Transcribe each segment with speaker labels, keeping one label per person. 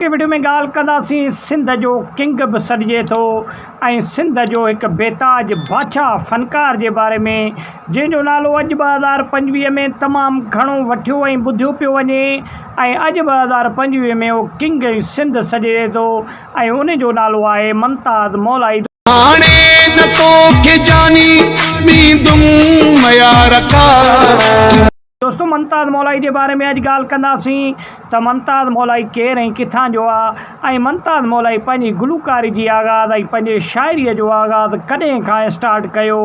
Speaker 1: اڳتي وڊيو ۾ ڳالهه ڪنداسين سنڌ جو ڪنگ به سڏجي ٿو ۽ سنڌ جو هڪ بيتاج بادشاهه فنڪار جي باري ۾ جنهن جو نالو اڄ ٻه هزار پنجويهه ۾ تمام گهڻو وٺيو ۽ ٻڌيو پيو وڃي ۽ اڄ ٻه هزار پنجويهه ۾ اهو ڪنگ سنڌ سڏجي ٿو ۽ ان جو نالو آهي ممتاز مولائي هاڻي نه توکي جاني ڏيندم ميارڪا. دوستو ممتاز مولائي جي باري ۾ اڄ ڳالهه ڪنداسين ته ممتاز مولائي ڪير ۽ ڪٿان جو آ ۽ ممتاز مولائي پنهنجي گلوڪاري جي آغاز ۽ پنهنجي شاعري جو آغاز ڪڏهن کان اسٽارٽ ڪيو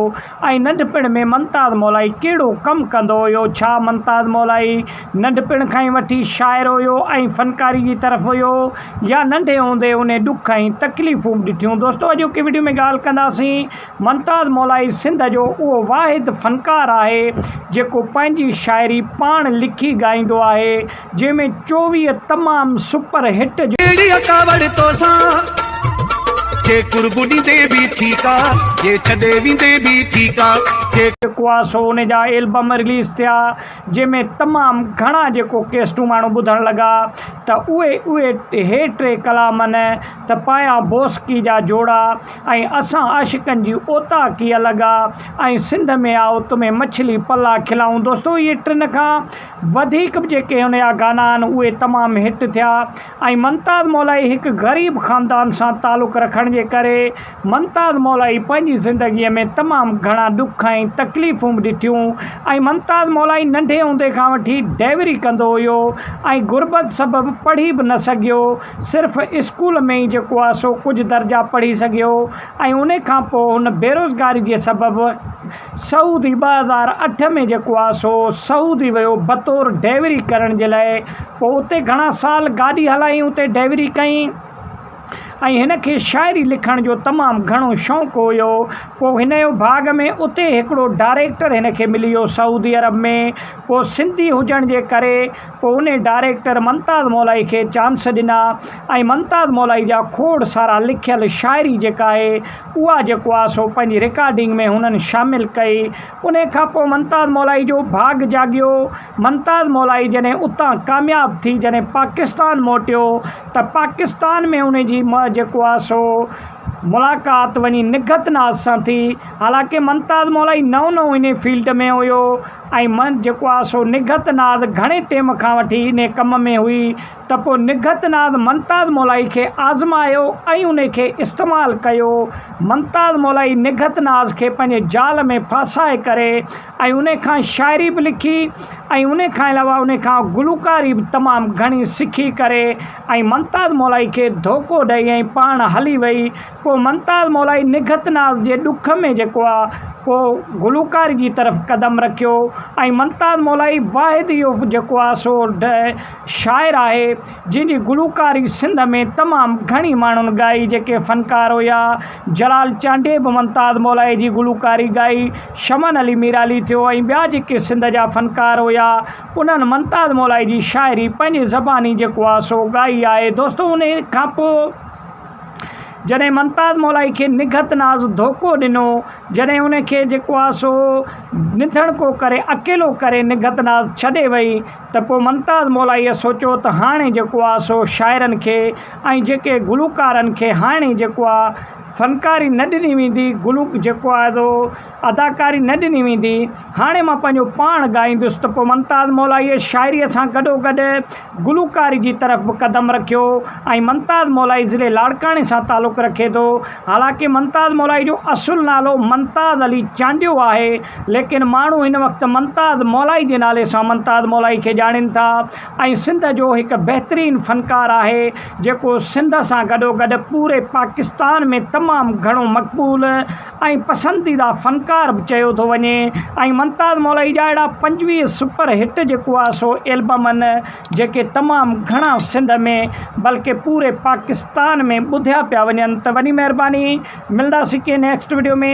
Speaker 1: ۽ ننڍپڻ ۾ ممتاز مولائي ڪهڙو ڪم ڪندو هيو ڇا ممتاز مولائي ننڍپڻ کان ئي وٺي شاعر هيو ۽ فنڪاري جي طرف هيو يا ننڍي هوندي انهي ڏک ۽ تڪليفون به ڏٺيون دوستو اڄوڪي وڊيو ۾ ڳالهه ڪنداسين ممتاز مولائي سنڌ جو اهو واحد فنڪار آهي جيڪو پنهنجي شاعري پاڻ لکي ڳائيندو آهي جنهن ۾ چوويهه تمام سپر هٽ جو ڪهڙي اڪاوڙ توسان جي قرب ڏيندي به ٺيڪ آ جي ڇڏي ويندي به ٺيڪ آ. جيڪو آ سو ان جا البم رليز ٿيا جنهن ۾ تمام گهڻا جيڪو ڪيسٽون ماڻهو ٻڌڻ لڳا ته اهي اهي هي ٽي ڪلامن ته پايان بوسڪي جا جوڙا. ۽ اسان عاشقن جي اوطاق ئي الڳ آ ۽ سنڌ ۾ آئو تمھين مڇلي پلا کلائون دوستو اھي ٽن کان وڌيڪ به جيڪي ھن جا گانا آھن اھي تمام ھٽ ٿيا ۽ ممتاز مولائي ھڪ غريب خاندان سان تعلق رکڻ جي ڪري ممتاز مولائي پنھنجي زندگي ۾ تمام گھڻا ڏک ۽ تڪليفون به ڏٺيون ۽ ممتاز مولائي ننڍي ھوندي کان وٺي ڊئوري ڪندو ھيو ۽ غربت سبب پڙھي به نه سگھيو صرف اسڪول ۾ ئي جيڪو آ سو ڪجهه درجا پڙهي سگهيو ۽ ان کان پوء هن بيروزگاري جي سبب سعودي ٻه هزار اٺ ۾ جيڪو آ سو سعودي ويو بطور ڊيوري ڪرڻ جي لاء پوء اتي گهڻا سال گاڏي هلائين اتي ڊيوري ڪئين ۽ هن کي شاعري لکڻ جو تمام گهڻو شوق هيو پوء هن جو ڀاڳ ۾ اتي هڪڙو ڊائريڪٽر هن کي ملي ويو سعودي عرب ۾ پوء سنڌي هجڻ جي ڪري پوء انهيء ڊائريڪٽر ممتاز مولائي کي چانس ڏنا ۽ ممتاز مولائي جا کوڙ سارا لکيل شاعري جيڪا آهي اها جيڪو آهي سو پنهنجي رڪارڊنگ ۾ هنن شامل ڪئي. انهيء کان پوء ممتاز مولائي جو ڀاڳ جاڳيو. ممتاز مولائي جڏهن اتان ڪامياب ٿي جڏهن پاڪستان موٽيو ته پاڪستان ۾ ان جي م جيڪو آهي سو ملاقات وڃي نگهت ناز سان ٿي. حالانڪه ممتاز مولائي نئون نئون انهيء فيلڊ ۾ هيو. ۽ من جيڪو آ سو نگهت ناز گهڻي ٽيم کان وٺي انهي ڪم ۾ هئي ته پوء نگهت ناز منتاز مولائي کي آزمايو ۽ انهي کي استعمال ڪيو. منتاز مولائي نگهت ناز کي پنهنجي جال ۾ ڦاسائي ڪري ۽ انهي کان شاعري به لکي ۽ انهي کان علاوه انهي کان گلوڪاري به تمام گهڻي سکي ڪري ۽ منتاز مولائي کي ڌوڪو ڏئي ۽ پاڻ هلي وئي پوء ممتاز مولائي نگهت ناز جي ڏک ۾ جيڪو آ ڪو گلوڪاري جي طرف قدم رکيو ۽ ممتاز مولائي واحد اهو جيڪو آ سو شاعر آهي جنهن جي گلوڪاري سنڌ ۾ تمام گهڻي ماڻهن ڳائي جيڪي فنڪار هيا جلال چانڊيي به ممتاز مولائي جي گلوڪاري ڳائي شمن علي ميرالي ٿيو ۽ ٻيا جيڪي سنڌ جا فنڪار هيا انهن ممتاز مولائي جي شاعري پنهنجي زباني جيڪو آ سو ڳائي آهي دوستو انهي کانپوء جڏهن ممتاز مولائي کي نگهت ناز ڌوڪو ڏنو، جڏهن ان کي جيڪو آ سو نڌڻڪو ڪري اڪيلو ڪري نگهت ناز ڇڏي وئي ته پوء ممتاز مولائيء سوچيو ته هاڻي جيڪو آ سو شاعرن کي ۽ جيڪي گلوڪارن کي هاڻي جيڪو آ فنڪاري نه ڏني ويندي گلوڪ جيڪو آ سو اداڪاري نه ڏني ويندي، هاڻي مان پنهنجو پاڻ ڳائيندس ته پوء ممتاز مولائيء شاعريء سان گڏوگڏ گلوڪاري جي طرف به قدم رکيو ۽ ممتاز مولائي ضلعي لاڙڪاڻي سان تعلق رکي ٿو. حالانڪه ممتاز مولائي جو اصل نالو ممتاز علي چانڊيو آهي، ليڪن ماڻهو هن وقت ممتاز مولائي جي نالي سان ممتاز مولائي کي ڄاڻين ٿا ۽ سنڌ جو هڪ بهترين فنڪار آهي، جيڪو سنڌ سان گڏوگڏ پوري پاڪستان ۾ تمام گهڻو مقبول ۽ پسنديده فنڪار به چيو ٿو وڃي ۽ ممتاز مولائي جا اهڙا پنجويهه سپر هٽ جيڪو آهي سو البم آهن جيڪي تمام گهڻا سنڌ ۾ بلڪه پوري پاڪستان ۾ ٻڌيا پيا وڃن ته وڏي مهرباني ملنداسين ڪنهن نيڪسٽ وڊيو ۾.